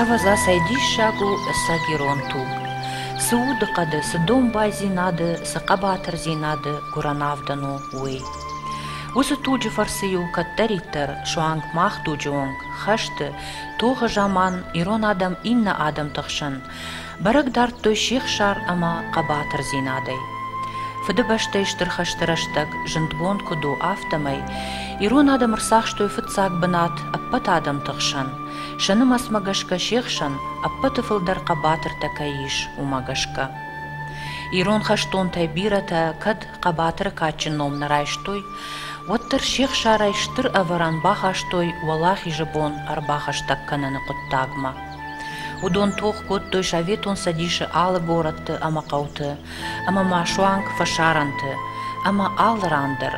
Ӕвӕдза, цӕй диссаг у сӕ герон туг! Цы удыхъӕды, цы домбайдзинады, цы хъӕбатырдзинады гуырӕн авдӕн у, уый! Уыцы туджы фӕрцы-иу кӕддӕриддӕр суанг мах дуджы онг хӕсты, тохы заман ирон адӕм иннӕ адӕмты хсӕн Бӕрӕг дардтой сихсар ӕмӕ хъӕбатырдзинадӕй. Фыдыбӕстӕйы Стыр хӕсты рӕстӕг зындгонд куыд у, афтӕмӕй ирон адӕм ӕрцахстой фыццаг бынат ӕппӕт адӕмты хсӕн. сӕ нымӕцмӕ гӕсгӕ се хсӕн ӕппӕты фылдӕр хъӕбатыртӕ кӕй ис, уымӕ гӕсгӕ. Ирон хӕстонтӕй бирӕтӕ кӕд хъӕбатыры кадджын ном нӕ райстой, уӕддӕр се хсарӕй стыр ӕвӕрӕн бахастой уӕлахизы бон ӕрбахӕстӕг кӕныны хъуыддагмӕ. Уыдон тох кодтой Советон Цӕдисы алы горӕтты ӕмӕ хъӕуты, ӕмӕ ма суанг фӕсарӕнты, ӕмӕ алы ран дӕр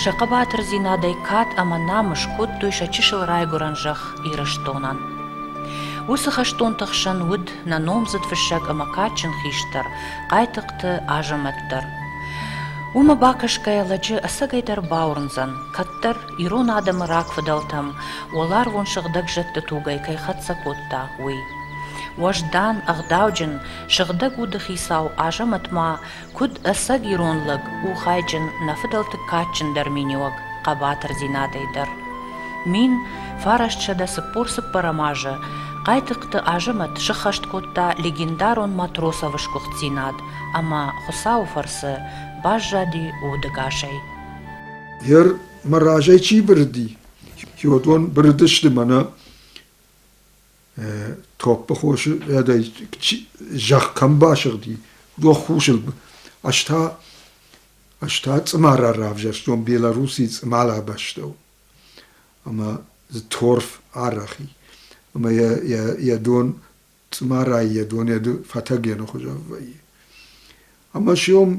сӕ хъӕбатырдзинадӕй кад ӕмӕ намыс кодтой сӕ чысыл райгуырӕн зӕхх Ирыстонӕн. Уыцы хӕстонты хсӕн уыд нӕ номдзыд фыссӕг ӕмӕ кадджын хистӕр Хъайтыхъты Азӕмӕт дӕр. Уымӕ бакӕсгӕйӕ лӕджы ӕцӕгӕйдӕр бауырндзӕн, кӕддӕр ирон адӕмы рагфыдӕлтӕм уӕларвон сыгъдӕг зӕдты тугӕй кӕй хӕццӕ кодта, уый. Уӕздан, ӕгъдауджын, сыгъдӕг уды хицау Азӕмӕт ма, куыд ӕцӕг ирон лӕг, у хайджын, нӕ фыдӕлты кадджындӕр миниуӕг хъӕбатырдзинадӕй дӕр. Мин фарастсӕдӕ цыппор-цыппӕрӕм азы Хъайтыхъты Азӕмӕт сыххӕст кодта легендарон Матросовы сгуыхтдзинад ӕмӕ Хуыцауы фӕрцы баззади удӕгасӕй. Йер мӕ разӕй чи бырыди, уыдон бырыдысты мӕнӕ топпы хосы рдӕй зӕхх кӕм басыгъди, уыдон хусыл. Ӕз та ӕз та цъымара равзӕрстон Белоруссийы цъымала бӕстӕу ӕмӕ дзы торф арӕх и. Ӕмӕ йӕ йӕ йӕ дон цъымарайы йӕ донеды фӕтӕгены хуызӕн вӕййы. Ӕмӕ сиом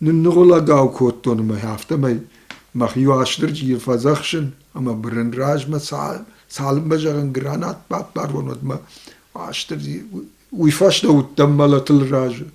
нынныгъуылӕгау кодтон мӕ афтӕмӕй мӕхи Уастырджийы фӕдзӕхсын ӕмӕ бырын размӕ цалынмӕ зӕгъын гранат баппарон, уӕдмӕ Уастырджи уый фӕстӕ уыдтӕн мӕлӕтыл разы.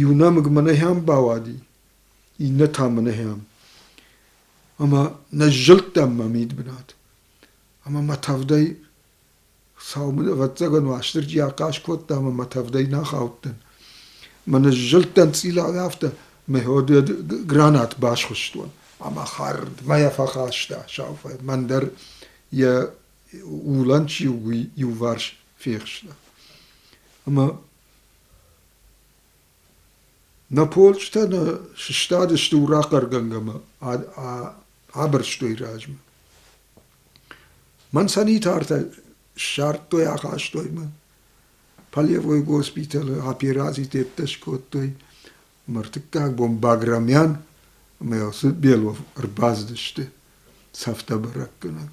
иу нӕмыг мӕнӕхӕм бауади, иннӕ та мӕнӕхӕм. Ӕмӕ нӕ сзылдтам мӕ мидбынат. Ӕмӕ мӕ тӕвдӕй сау ӕвӕццӕгӕн Уастырджи ахъаз кодта ӕмӕ мӕ тӕвдӕй нӕ хаудтӕн. Мӕ ныззылдтӕн цъилӕй афтӕ, мӕ ходуйӕ гранат басхуыстон ӕмӕ хӕрдмӕ йӕ фӕхаста сау фӕд. Мӕн дӕр йӕ улӕн чи у, уый иуварс фехста. Ӕмӕ Нӕ полчъытӕ нӕ сыстадысты урахъӕргӕнгӕмӕ, абырстой размӕ. Мӕн санитартӕ ссардтой, ахастой мӕ. Полевой госпитӕлы операци тедтӕ скодтой. Ӕмӕ ӕртыккаг бон Баграмян ӕмӕ Белов ӕрбацыдысты цӕфтӕ бӕрӕггӕнӕг.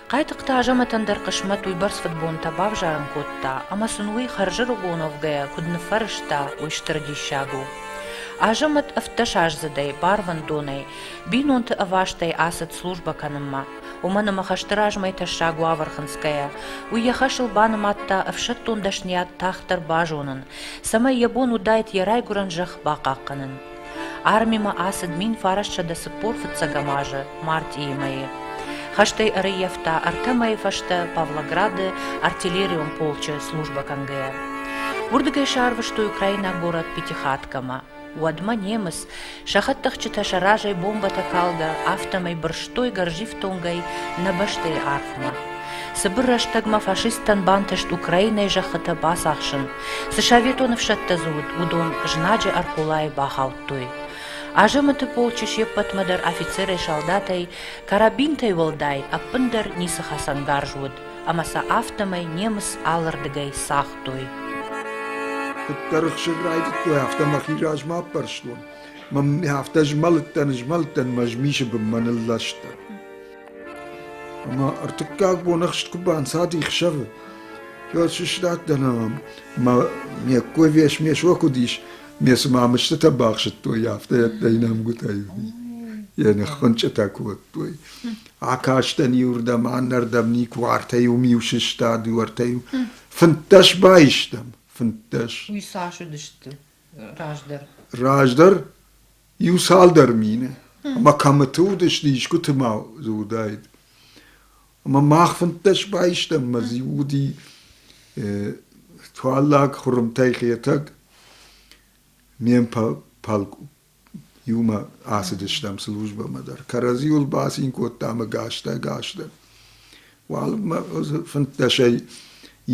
Хъайтыхъты Азӕмӕтӕн дӕр хъысмӕт уыйбӕрц фыдбонтӕ бавзарын кодта, ӕмӕ сын уый хӕрзӕрыгон уӕвгӕйӕ куыд ныффӕрӕзта, уый стыр диссаг у. Азӕмӕт ӕвддӕсаздзыдӕй барвӕндонӕй, бинонты ӕвастӕй ацыд службӕ кӕнынмӕ. Уымӕн ӕмӕ хӕсты размӕ тӕссаг уавӕр хынцгӕйӕ, уый йӕ хӕсыл банымадта ӕфсӕддон дӕсныйад тагъддӕр базонын, цӕмӕй йӕ бон уыдаид йӕ райгуырӕн зӕхх бахъахъхъӕнын. Армимӕ ацыд мин фарӕссӕдӕ цыппор фыццӕгӕм азы мартъийы мӕйы. Хӕстӕй ӕрӕййӕфта ӕртӕ мӕйы фӕстӕ Павлограды артиллерион полчъы службӕ кӕнгӕйӕ. Уырдыгӕй сарвыстой украинаг горӕт Пятихаткамӕ. Уӕдмӕ немыц, сӕхӕдтӕхджытӕ сӕ разӕй бомбӕтӕ калгӕ, афтӕмӕй бырстой гӕрзифтонгӕй нӕ бӕстӕйы арфмӕ. Цыбыр рӕстӕгмӕ фашисттӕн бантыст Украинайы зӕххытӕ бацахсын, Цы советон ӕфсӕдтӕ дзы уыд, уыдон знаджы ӕрхъулайы бахаудтой. Азӕмыты полчы се ппӕтмӕ дӕр афицерӕй, салдатӕй, карабинтӕй уӕлдай ӕппындӕр ницы хӕцӕнгарз уыд, ӕмӕ сӕ афтӕмӕй немыц алырдыгӕй цагътой. Куыддӕр ӕхсыр райдыдтой, афтӕ мӕхи размӕ аппӕрстон. Мӕ афтӕ змӕлыдтӕн, змӕлыдтӕн мӕ змисы бынмӕ нылластӕн. Ӕмӕ ӕртыккаг бон ӕхст куы банцади хсӕвы, уӕд сыстадтӕн ӕмӕ мӕ ме ккой вес ме со куыд ис, ме цыма мыстытӕ бахсыдтой, афтӕ ӕддӕ инӕмгуытӕй йӕ ныххуынчъытӕ кодтой. Акастӕн иуырдӕм, аннӕрдӕм никуы ӕртӕ-иу миу сыстад, уӕртӕ-иу фынддӕс баистӕм, фынддӕс. Уый цас уыдысты раздӕр? Раздӕр Иу цалдӕр мины ӕмӕ кӕмыты уыдысты, искуыты ма дзы уыдаид. Ӕмӕ мах фынддӕс байстам, ӕмӕ дзы уыди туаллаг хуырымтӕй Хетӕг. Не иумӕ ацыдыстӕм службӕмӕ дӕр. Кӕрӕдзиуыл бацин кодтам ӕгӕстӕ-ӕгӕстӕ. Уалынмӕ фынддӕсӕй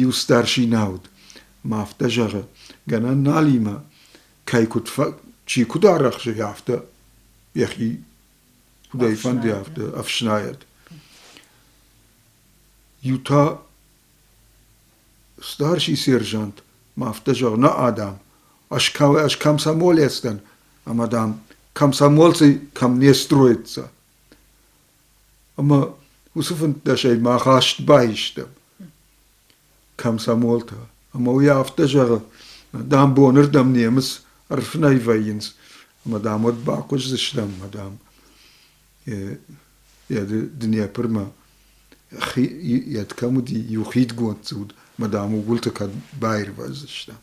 иу старшина уыд. Ма афтӕ зӕгъы, гӕнӕн наlimӕ кӕй куыд чи куыд арӕхсы, афтӕ йӕхи куыдӕй фӕнды, афтӕ ӕфснайӕд. Иу та старший сержант ма афтӕ зӕгъ, на адам, аж кӕм сӕ молецдӕн, ӕмӕ дам, комсомольцы кӕм не строится. Ӕмӕ уыцы фынддӕсӕй мах аст баистӕм. комсомолтӕ. Ӕмӕ уый афтӕ зӕгъы, дам, бонырдӕм немыц ӕрфынӕй вӕййынц, ӕмӕ дам уӕд бахъуыздзыстӕм, мадам, йӕ Днепрмӕ йед кӕм уыди, иу хидгонд дзы уыд, мадам, угуылты кӕд баирвӕздзыстӕм.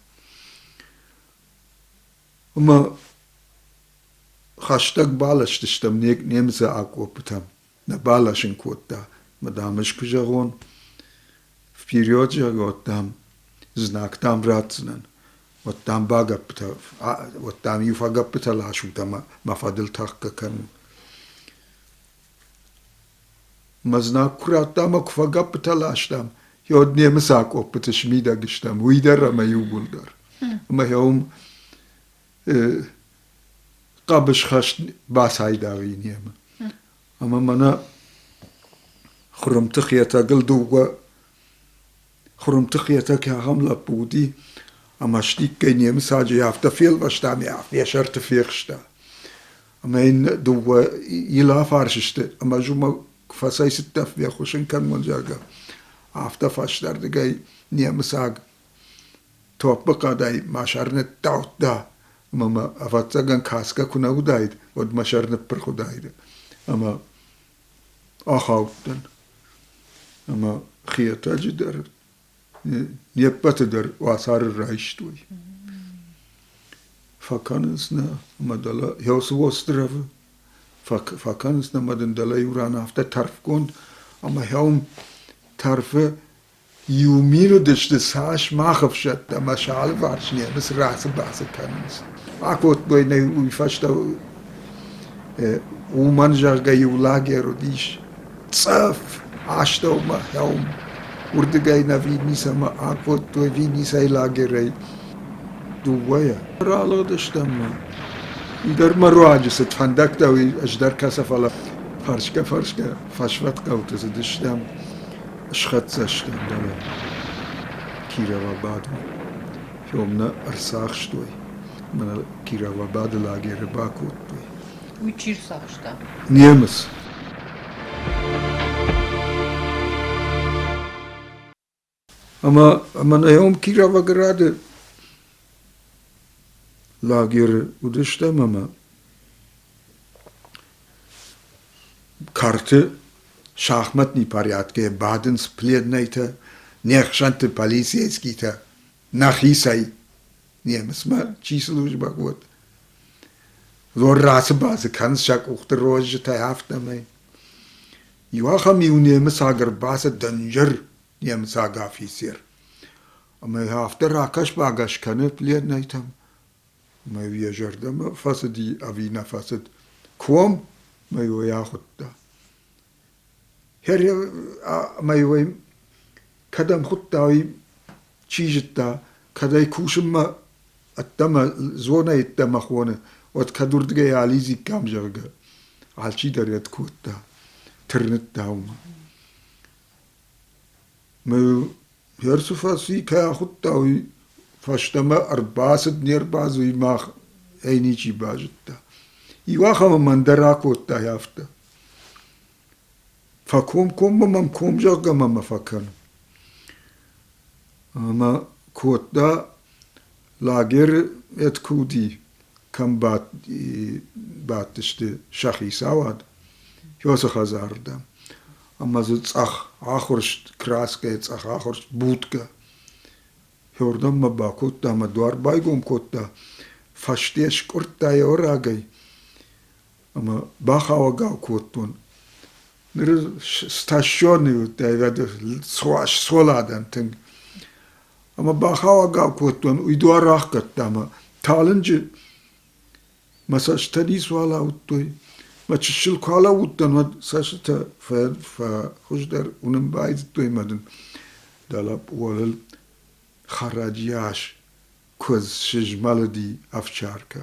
Ӕмӕ хӕстӕг баластыстӕм немыцы акъоппытӕм. нӕ баласын кодта, мадам, ӕз куы зӕгъон, вперед зӕгъот, дам, знаг дам ратдзынӕн, уӕд дам багӕппытӕ, уӕд дам иу фӕгӕппытӕ ласут ӕмӕ мӕ фӕдыл тӕхгӕ кӕнут. Мӕ знаг куы радта ӕмӕ куы фӕгӕппытӕ ластам, йод немыц акъоппыты смидӕг стӕм, уый дӕр ӕмӕ иууылдӕр. Ӕмӕ йӕ уым хъӕбысхӕст бацайдагъ и немӕ. Ӕмӕ мӕнӕ Хуырымты Хетӕгыл дыууӕ Хуырымты Хетӕг ахӕм лӕппу уыди, ӕмӕ стиккӕй немыцаджы афтӕ фелвӕста ӕмӕ ме сӕрты фехста. Ӕмӕ йын дыууӕ Ил афарс сты, ӕмӕ ӕз уымӕ куы фӕцӕйцыдтӕн фехъусын кӕнон, зӕгъгӕ, афтӕ фӕстӕрдыгӕй немыцаг топпы хъӕдӕй мӕ сӕр ныттаудта, ӕмӕ мӕ, ӕвӕццӕгӕн, кӕсгӕ куы нӕ уыдаид, уӕд мӕ сӕр ныппырх уыдаид. Ӕмӕ ахаудтӕн. Ӕмӕ Хетӕджы дӕр, не ппӕты дӕр уацары райстой. Фӕкӕнынц нӕ, ӕмӕ дӕлӕ еу цы островы фӕкӕнынц нӕ мӕ дын дӕлӕ иу ран афтӕ тӕрфгонд, ӕмӕ хӕуым тӕрфы Иу мин уыдысты цас мах ӕфсӕдтӕ ӕмӕ сӕ алыварс немыц рацыбацы кӕнынц. Акодтой нӕ уый фӕстӕ уымӕн, зӕгъгӕ, иу лагерь уыдис цъӕф астӕумӕ хъӕуым, уырдыгӕй нӕ Винницӕмӕ акодтой Винницӕйы лагерӕй дыууӕйӕ. Ралыгъдыстӕм ма уыдӕр ма руаджы цыд фӕндӕгтӕ, уый ӕз дӕр кӕсӕ, фӕлӕ фӕрсгӕ-фӕрсгӕ фӕсвӕд хъӕуты цыдыстӕм. Схӕццӕ сты дӕлӕ Кировабадмӕ, фьом нӕ ӕрцахстой мӕ нӕ Кировабады лагеры бакодтой. Уый чи рцахста? Немыц. Ӕмӕ ӕмӕ наём Кировограды лагеры уыдыстӕм ӕмӕ Кӕрты шахматный порядкӕй бадынц пленнойтӕ, не хсӕнты полицейскийтӕ нӕхицӕй, немыцмӕ чи службӕ уыд. Лор рацыбадзы кӕнынц сӕ къухты розджытӕй афтӕмӕй. Иу ахӕм иу немыцаг ӕрбацыд дынджыр немыцаг афицер ӕмӕ йӕ афтӕ ракӕс-багӕс кӕны пленнойтӕм, Мӕ йӕ зӕрдӕмӕ фӕцыди ӕви нӕ фӕцыд, куом мӕ уый ахуыдта. Хӕря мӕ уый кӕдӕм хуыдта, уый чи зыдта, кӕд ӕй кусынмӕ ӕддӕмӕ зонӕй ӕддӕмӕ хоны, уӕд кӕд уырдыгӕй алидзиккам, зӕгъгӕ, алчидӕр йӕ кодта, тырныдта уымӕ. Мӕ Персы фӕрцы кӕй ахуыдта, уый фӕстӕмӕ ӕрбацыд не рбацыд, уый мах ӕй ничи базыдта. Иу ахӕмы мӕн дӕр акодтай афтӕ. Фӕкомкоммӕ мӕм ком зӕгъгӕ ма фӕкӕн. Ӕмӕ кодта Лагеры ӕдкуди кӕм бадтысты сӕ хицауад, уыцы хӕдзарырдӕм. Ӕмӕ дзы цъӕх ахуырст, краскӕйы цъӕх ахуырст, будкӕ. Уырдӕммӕ бакодта ӕмӕ дуар байгом кодта, фӕсте скъуырдта йӕ рагӕй. ӕмӕ бахауӕгау кодтон. Ныр стащенный уыдтӕй суал адӕм тынг. Ӕмӕ бахауӕгау кодтон, уый дуар рахгӕдта ӕмӕ талынджы мӕ цӕстытӕ ницы уал ауыдтой. Мӕ чысыл куы алӕууыдтӕн, уӕд цӕстытӕ фӕхуыздӕр уынын байдыдтой мӕ дын дӕлӕ уӕлыл хӕрӕджы ас куыдз сызмӕлыди ӕфсӕркӕ.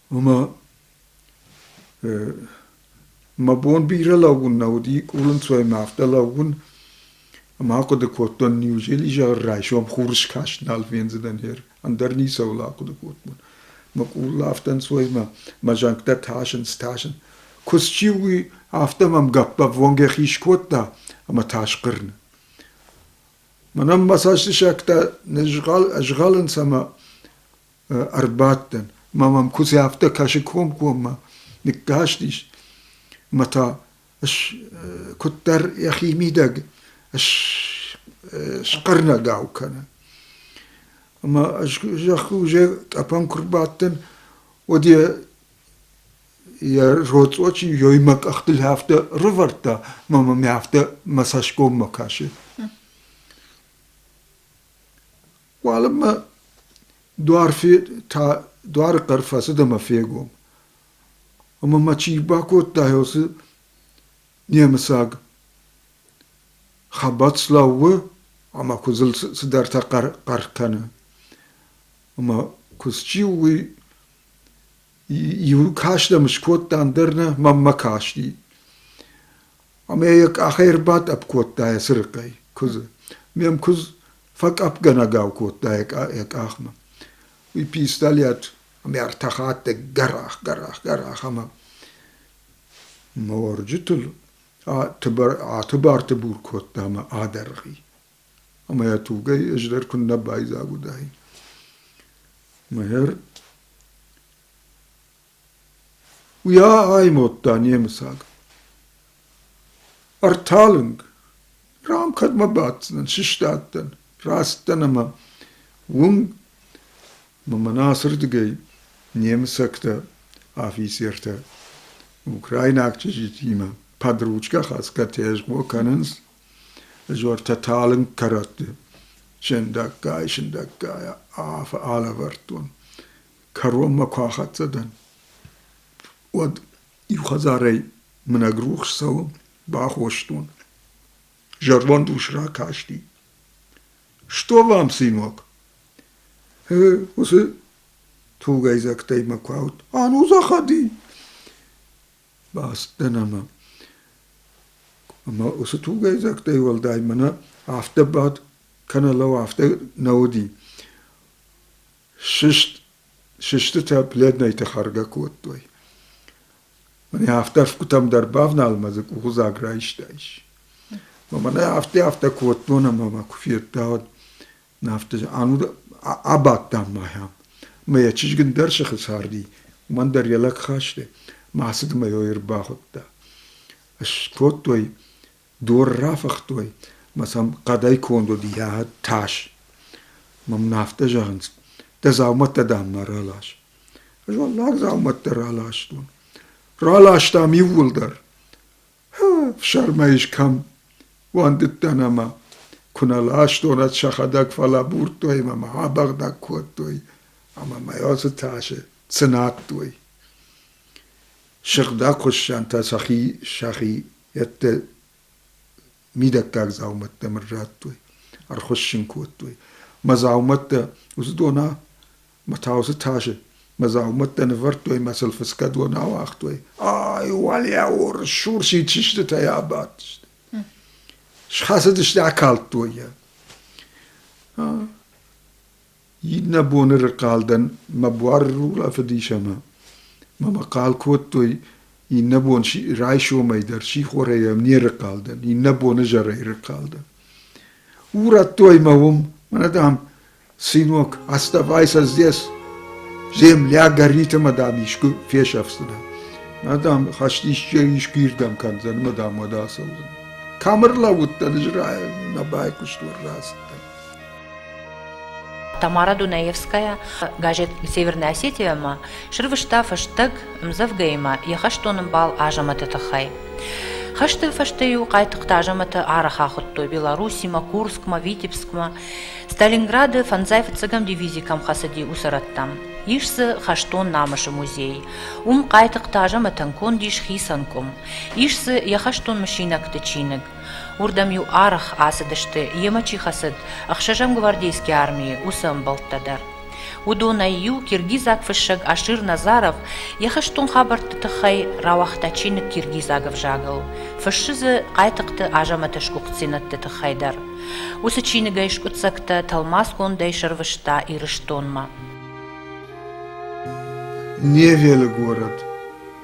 Ӕма мӕ бон бирӕ лӕугун нӕ уди, къулӕнцойӕ мӕ афтӕ лӕугун, ӕма ахъуыды кодтон, неужели изӕр райсом хурскаст нал фендзӕнӕн хер, ӕндӕр ницӕуыл ахъуыды кодтон. Мӕ къул афтӕ ӕнцой ӕмӕ мӕ зӕнгтӕ тасынц, тасынц. Куы счи уый, афтӕ мӕм гӕппӕввонг йӕхи скодта ӕмӕ тас хъырны. Мӕнӕн мӕ цӕстысӕгтӕ нызгъӕл ӕзгъӕлынц ӕмӕ ӕрбадтӕн мӕ мӕм куыдзы афтӕ кӕсы комкоммӕ ныккастис мӕ та куыддӕр йӕхи мидӕг схъырнӕгау кӕны. Ӕмӕ зӕххы уже тъӕпӕн куы рбадтӕн, уӕд йӕ йӕ роцъо чи йемӕ къӕхтыл афтӕ рывӕрдта, мӕ мӕм афтӕ мӕ цӕсгоммӕ кӕсы. Уалынмӕ дуарфи та дуары хъӕр фӕцыд ӕмӕ фегом. Ӕмӕ мӕ чи бакодта уыцы немыцаг хабӕц лӕууы ӕмӕ куыдзыл цыдӕртӕ хъӕр, хъӕр кӕны. Ӕмӕ куыдз чи у, уый иу каст ӕм скодта, ӕндӕр нӕ мӕнмӕ касти. ӕмӕ йӕ къахӕй ӕрбатъӕпп кодта йӕ цырыхъӕй куыдзы. Ме мкуыдз фӕкъӕпгӕнӕгау кодта йӕ къахмӕ. Уый пистолет ӕмӕ ӕртӕхатты гӕрах-гӕрах-гӕрах ӕмӕ морджытыл атыбар-тыбар бур кодта ӕмӕ адӕргъи. Ӕмӕ йӕ тугӕй ӕз дӕр куыннӕ байдзаг уыдаин. Мӕгӕр Уйа аймодта немыцаг. Ӕрталынг. Рам кӕдмӕ баддзынӕн, сыстадтӕн, раст дӕн ӕмӕ уым мӕ мӕнӕ ацырдыгӕй немыцӕгтӕ, афицертӕ украинаг чызджытимӕ подручкӕ хӕцгӕтӕ схо кӕнынц ызуӕртӕ талынг кӕрӕтты сындӕггай-сындӕггай аф алӕвӕрдтон. кӕронмӕ куы ахӕццӕ дӕн, уӕд иу хӕдзарӕй мынӕг рухс цӕуы, бахостон. Зӕронд ус ракасти. — Стор вам, сынок! Уыцы тугӕйдзӕгтӕй мӕ куы ауд. — А ну заходи! Бацыдтӕн ӕмӕ ӕмӕ уыцы тугӕйдзӕгтӕй уӕлдай мӕнӕ афтӕ бад кӕнӕ лӕу афтӕ нӕ уыди. Сыст, сыстытӕ пледнайты хӕргӕ кодтой. Мӕнӕ афтӕ ӕфгуытӕм дӕр бавнал мӕ дзы къугъдзаг райстаис. Мӕнӕ афтӕ афтӕ кодтон ӕмӕ мӕ куы федтаут. Афтӕ ӕнуд абадтам махӕм. Мӕ йӕ чызг ӕндӕр сыхы царди, уымӕн дӕр йӕ лӕг хасты. Мӕ ацыдмӕ йӕ ӕрбахуыдта. Скодтой Дор рафыхтой мӕ сӕм хъӕдӕй конд уыд йӕ тас. Мӕм нӕ афтӕ зӕгъынц, дӕ дзаумӕттӕ, дам, ма ралас. Ӕз уӕллаг дзаумӕттӕ раластон. Раластам иууылдӕр. Фсӕрмӕ ис кӕм? Уӕндыдтӕн ӕмӕ куы нӕ ластонӕд сӕхӕдӕг фӕлӕбурдтой мӕ мӕ абӕгъдӕг кодтой ӕмӕ мӕ ацы тасы цынадтой. Сыгъдӕг хуыссӕнтӕ сӕхи сӕхи Ӕдде мидӕггаг дзаумӕттӕ мыр радтой, ӕрхуыссын кодтой. Мӕ дзаумӕттӕ уыдона мӕ таусы тасы мӕ дзаумӕттӕ нывӕрдтой мӕ сыл фыцгӕ дон ауагътой. Ай, уӕлиау рсурсид сыстытӕй абадтысты. Схӕцыдысты, акалдтой йӕ. Иннӕ боны рынхъӕлдӕн мӕ буары рулӕфыдис ӕмӕ мӕ мӕхъӕл кодтой, иннӕ бон райсомӕй дӕр сихорӕй ӕм не рынхъӕл дӕн, иннӕ боны зӕрӕй рынхъӕл дӕн. Урӕдтой мӕ уым, мӕнӕ, дам, сынок, оставайся здесь, земля горит ӕмӕ, дам, искуы фесӕфдзынӕ. Мӕ, дам, хӕст исчи искуыирдӕм кӕндзӕн ӕмӕ, дам, уӕд ацӕудзӕн. Кӕм ӕрлӕууыдтӕн, ӕз нӕ байхъуыстон рацыдтӕн. Тамара Дунаевская газет «Северная Осетия»-мӕ срывыста фӕстаг ӕмдзӕвгӕимӕ йӕ хӕстон ӕмбал Азӕмӕты тыххӕй. Хӕсты фӕстӕ-иу къайтыхъты Азӕмӕты арӕх ахуыдтой Белоруссимӕ, Курскмӕ, Витебскмӕ. Сталинграды фӕндзай фыццӕгӕм дивизи кӕм хӕцыди, уыцы рӕттӕм. Ис дзы хӕстон намысы музей. Уым Хъайтыхъты Азӕмӕтӕн конд ис хицӕн къуым. Ис дзы йӕ хӕстон мысинӕгты чиныг. Уырдӕм-иу арӕх ацыдысты, йемӕ чи хӕцыд, ӕхсӕзӕм гвардейские армийы уыцы ӕмбӕлттӕ дӕр. Уыдонӕй-иу киргизаг фыссӕг Ашир Назаров йӕ хӕстон хабӕртты тыххӕй рауагъта чиныг киргизаг ӕвзагыл, фыссы дзы Хъайтыхъты Азӕмӕты сгуыхтдзинӕдты тыххӕй дӕр. Уыцы чиныгӕй скъуыддзӕгтӕ тӕлмацгондӕй сӕрвыста Ирыстонмӕ. Невелы город.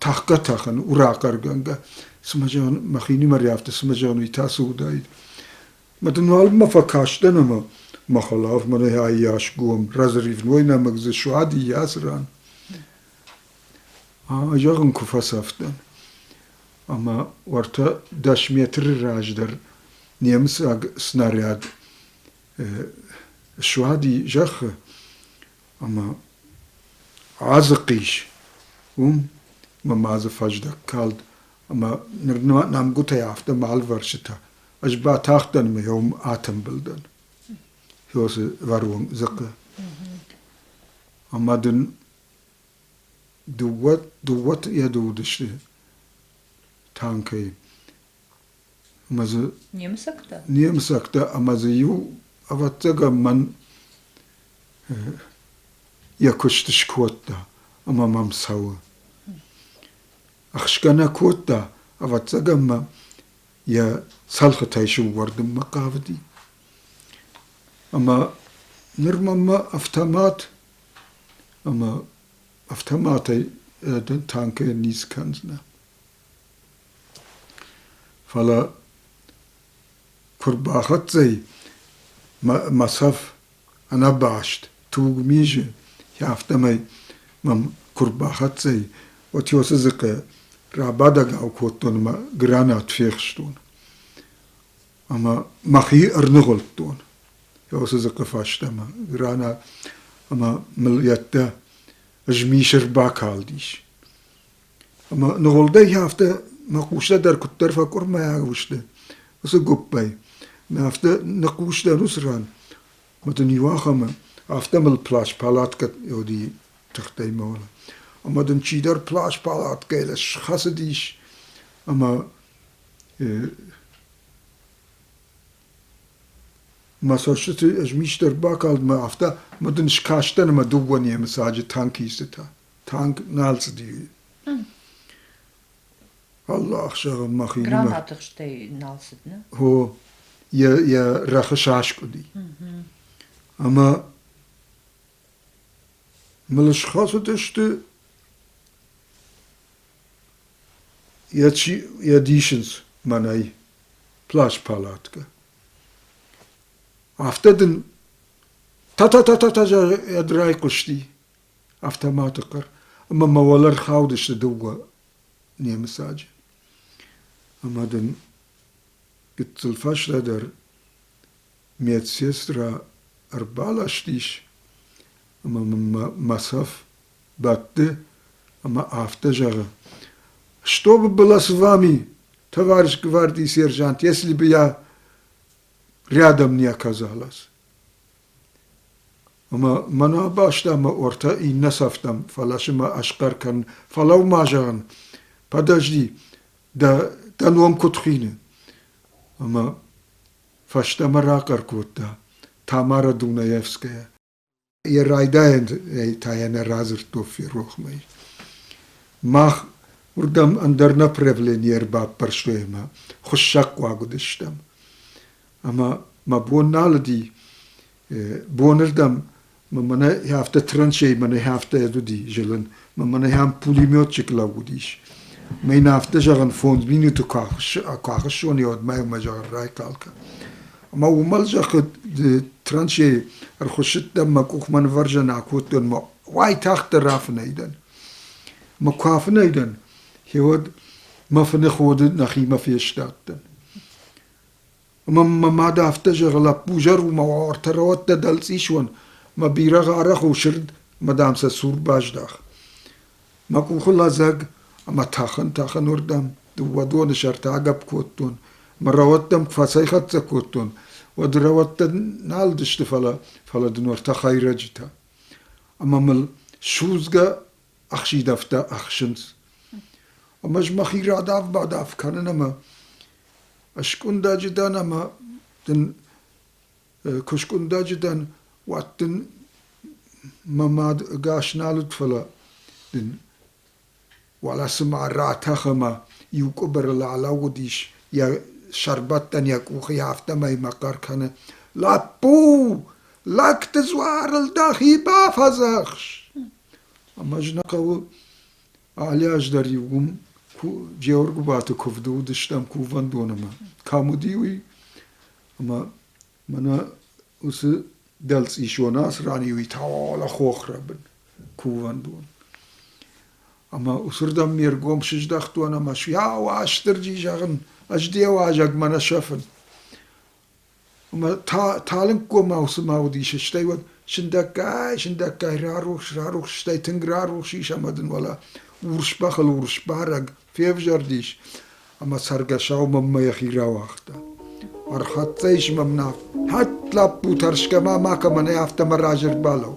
тахка тахын урахъаргӕнгӕ цыма зӕгъын махинимӕ риавты цыма зӕгъын уый тасы удаид ма дын нал ма фӕкастӕн ӕмӕ ма халав мӕ айас гом разрывной нӕмӕг дзы суади ясран зӕгъын куы фӕсӕфтӕн ӕмӕ уӕртӕ дӕс метры раздӕр немыцаг снаряд суади зӕххы ӕмӕ азы хъис уым мӕ ма дзы фӕздӕг калд ӕмӕ ныр нӕмгуытӕй афтӕ ма ӕлвӕрсытӕ ӕз батахтӕн ӕмӕ йӕ уым атымбылдӕн фосы вӕрон дзыхъы ӕмӕ дын дыууӕ дыууӕ йӕ уыдысты танкӕй ӕмӕ дзы немыцӕгтӕ немыцӕгтӕ ӕмӕ дзы иу ӕвӕццӕгӕн мӕн йӕ куыст скодта ӕмӕ мӕм цӕуы ӕхсгӕ нӕ кодта ӕвӕццӕгӕн мӕ йӕ цӕлхытӕй сыввӕрдынмӕ хъавыди ӕмӕ ныр мӕнмӕ автомат ӕмӕ автоматӕй танкӕй низ кӕндзынӕ Фӕлӕ куы рбахӕццӕ и мӕ цӕф ӕнӕбаст туг мизы, афтӕмӕй мӕм куы рбахӕццӕ и, уӕд уыцы дзыхъы рабадӕгау кодтон ӕмӕ гранат фехстон ӕмӕ мӕхи ӕрныгъуылдтон уыцы дзыхъы фӕстӕмӕ гранат ӕмӕ мыл йеддӕ змисы рбакалдис. Ӕмӕ ныгъуылдӕй афтӕ мӕ хъустӕ дӕр куыддӕр фӕкъуырмайаг сты уыцы гуыппӕй, мӕ афтӕ ныхъхъус дӕн уыцы ран, ӕмӕ дын иу ахӕмы афтӕ мыл плащ-палаткӕ Иодийы тыхтӕй мӕлы, ӕмӕ дын чидӕр плащ-палаткӕйыл схӕцыдис ӕмӕ мӕ цӕстыты ӕзмист ӕрбакалд, мӕ афтӕ, ӕмӕ дын скастӕн ӕмӕ дыууӕ немыцаджы танкистытӕ. танк нал цыди. Алы ӕхсӕвы мӕхимӕ... Гранаты хстӕй нал цыд, не? О, йӕ, йӕ рӕхы саскъуыди. Ӕмӕ мыл схӕцыдысты йӕ, чи, йӕ дисынц мӕнӕй плащ-палатка. Афтӕ дын та-та-та-та-та ӕд райхъуысти. автоматы хъӕр ӕмӕ мӕ уӕлӕ рхаудысты дыууӕ немыцаджы. Ӕмӕ дын гыццыл фӕстӕдӕр медсестрӕ ӕрбаластис ӕмӕ мӕ мӕ цӕф бӕтты ӕмӕ афтӕ зӕгъы. Чтобы было с вами, товарищ гвардии сержант, если бы я рядом не оказалась. Ӕмӕ мӕнӕ бӕстӕмӕ ортӕ иннӕ сӕфтам, фӕласы мӕ асхъӕр кӕн, фӕлӕуу-ма, зӕгъын, подожди, дӕ, дӕ ном куыд хины? Ӕмӕ фӕстӕмӕ рахъӕр кодта Тамарӕ Дунаевская. Йӕ райдайӕнӕй та йӕ нӕ радзырдтой ферохмӕ. Мах уырдӕм ӕндӕр направлени ӕрбаппӕрстой ӕмӕ хуыссӕгхъуаг уыдыстӕм. ӕмӕ мӕ бон нал уыди. Бонырдӕм мӕнӕ афтӕ траншей мӕнӕ афтӕ уыди зылын, мӕнӕ ам пулеметчик лӕууыдис. Мӕ йын афтӕ зӕгъын, фондз минуты куы ахуыссон, уӕдмӕ мӕ зӕгъын, райхъал кӕн. Ӕмӕ уымӕл зӕххы траншейы ӕрхуыссыдтӕн, мӕ къухмӕ нывӕрзӕн акодтон, мӕ уайтагъддӕр рафынӕй дӕн. Мӕ куы афынӕй дӕн, гьеуӕд мӕ фыны ходы нӕхимӕ фестадтӕн. Ӕмӕ мӕ мад афтӕ зӕгъы, лӕппу, зӕру-ма, ӕртӕ рауӕттӕ дӕлцъис уон, мӕ бирӕгъ арӕх у сырд, ӕмӕ дам сӕ сур баздах. Мӕ къухы лӕдзӕг ӕмӕ тӕхын-тӕхынуырдӕм дыууӕ доны сӕрты агӕпп кодтон, ӕмӕ рауӕттӕм куы фӕцӕйхӕццӕ кодтон, уӕд рауӕттӕ нал уыдысты, фӕлӕ, фӕлӕ дын ӕртӕ хӕйрӕджытӕ. Ӕмӕ мыл судзгӕ ӕхсидӕвтӕ ӕхсынц. Ӕмӕ ӕз мӕхи радав-бадав кӕнын ӕмӕ скъуыдӕджы дӕн ӕмӕ дын куы скъуыдӕджы дӕн, уӕд дын мӕ мад ӕгас нал уыд, фӕлӕ дын уӕлӕ цыма ратӕх ӕмӕ иу къуыбырыл алӕууыдис йӕ сӕрбӕттӕн йӕ къухы, афтӕмӕй мӕ хъӕр кӕны. Лӕппу, лӕгты дзуарыл дӕхи бафӕдзӕхс! Ӕмӕ ӕз нӕ хъӕуы алы аз дӕр-иу уым Джеоргуыбаты куывды уыдыстӕм кувӕндонымӕ. Кӕм уыди уый? Ӕмӕ мӕнӕ уыцы дӕлцъис Йонас ранӕй уый талахохры бын кувӕндон. Ӕмӕ уыцырдӕм ме ргом сыздӕхтон ӕмӕ суя Уастырджи зӕгъын, ӕз де уазӕгмӕ нӕ сӕфын. Ӕмӕ та талынггомау цыма уыдис, стӕй уӕд сындӕггай, сындӕггай рарухс, рарухс, стӕй тынг рарухс ис ӕмӕ дын уӕлӕ урс бӕхыл урс барӕг февзӕрдис ӕмӕ цӕргӕсау мӕнмӕ йӕхи рауагъта. Ӕрхӕццӕ ис мӕм Наф. Хӕтт, лӕппу, тӕрсгӕ ма макӕмӕн ӕй афтӕ мӕ разӕрд балӕу.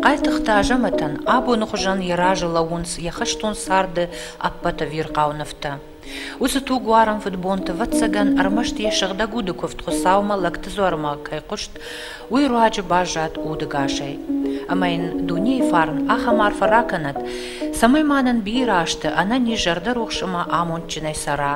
Хъайтыхъты Азӕмӕтӕн абоны хуызӕн йӕ разы лӕууынц йӕ хӕстон царды ӕппӕт ӕвирхъау нывтӕ. Уыцы тугуарӕн фыдбонты, ӕвӕццӕгӕн, ӕрмӕст йӕ сыгъдӕг уды куывд Хуыцаумӕ лӕгты дзуармӕ кӕй хъуыст, уый руаджы баззад удыгасӕй. Ӕмӕ йын дунейы фарн ахӕм арфӕ ракӕнӕд, цӕмӕй ма нын бирӕ азты ӕнӕниз зӕрдӕрухс ӕмӕ амондджынӕй цӕра,